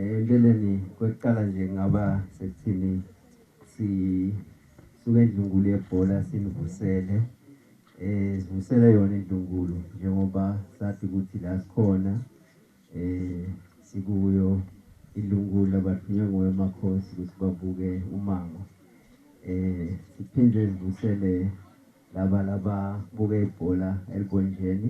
Empeleni kwekuqala nje ngaba sekuthini sisuke endlungulu yebhola sinivusele eh sivusele yona indlungulu njengoba sathi ukuthi la sikhona eh sikuyo indlungulu abathunywe ngoye makhosi ukuthi babuke umango eh siphinde sivusele laba laba buke ibhola elibonjeni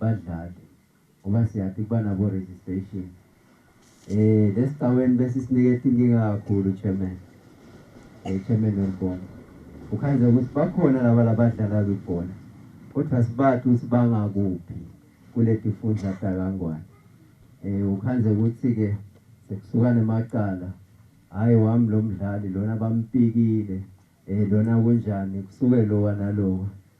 badlale ngoba siyaphi kuba nabo registration eh lesicaweni bese sinikethe inkinga kakhulu chairman eh chairman welibona ukhanze ukuthi bakhona laba labadlala kwibhola kodwa sibathi ukuthi bangakuphi kuleti fundla dakangwane eh ukhanze ukuthi ke sekusuka nemacala hayi wami lo mdlali lona bampikile eh lona kunjani kusuke lowa nalowa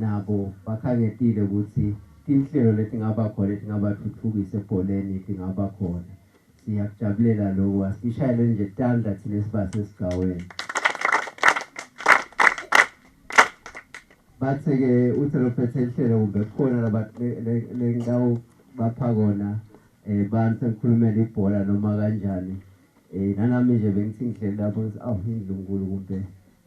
Nabo bakhangetile ukuthi tinhlelo letingaba khona letingabatfutfukisa ebholeni tingaba khona. Siyakujabulela loku. Asishayeleni nje tandla thina esibasesigcawini. Bathe-ke uthe lophethe inhlelo kumbe kukhona labathi lengitawubapha kona um bani sengikhulumela ibhola noma kanjani. Nanami nje bengithi ngidlele lapho ngithi awu indlunkulu kumbe.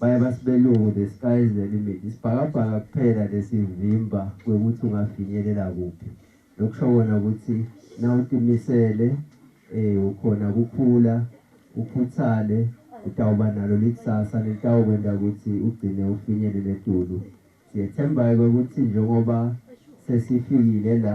Bayabasi belungu the sky is the limit isibhakabhaka kuphela lesivimba kwekuthi ungafinyelela kuphi lokusho kona ukuthi nawutimisele eh ukhona kukhula ukhuthale utawuba nalo likusasa litawukwenta ukuthi ugcine ufinyelele edulu siyethemba-ke ukuthi njengoba sesifikile la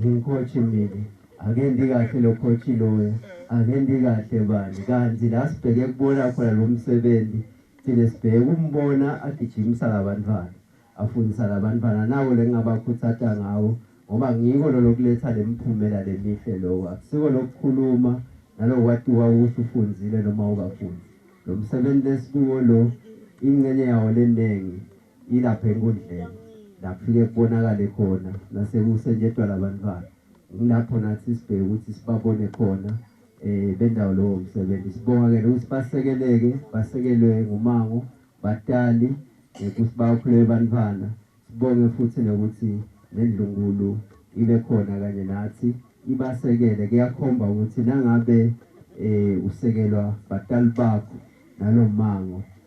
Ngikhothi mina akendi kahle lo coach loya akendi kahle bani kanti la sibheke kubona khona lo msebenzi thina sibheke umbona agijimisa labantwana afundisa labantwana nako lengabakhuthata ngawo ngoba ngiko lo lokuletha lemiphumela lemihle lokho akusiko lokukhuluma nalokwatiwa ukuthi ufunzile noma ukafundi lo msebenzi lesikuwo lo ingxenye yawo leningi Ilapha enkundleni lapfike kubonakale khona nasekusenjetwa labantwana kulapho nathi sibheke ukuthi sibabone khona eh bendawo lowo msebenzi sibonga ke ukuthi basekeleke basekelwe ngumango batali eh, ukuthi bakhule bantwana sibonge futhi nokuthi nendlungulu ibe khona kanye nathi ibasekele kuyakhomba ukuthi nangabe eh usekelwa batali bakho nalomango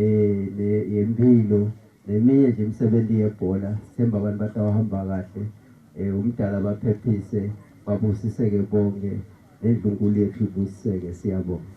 um yempilo neminye nje imisebenzi yebhola sithemba abantu batawahamba kahle um umdala baphephise babusiseke bonke nendlunkulu yethu ibusiseke siyabonga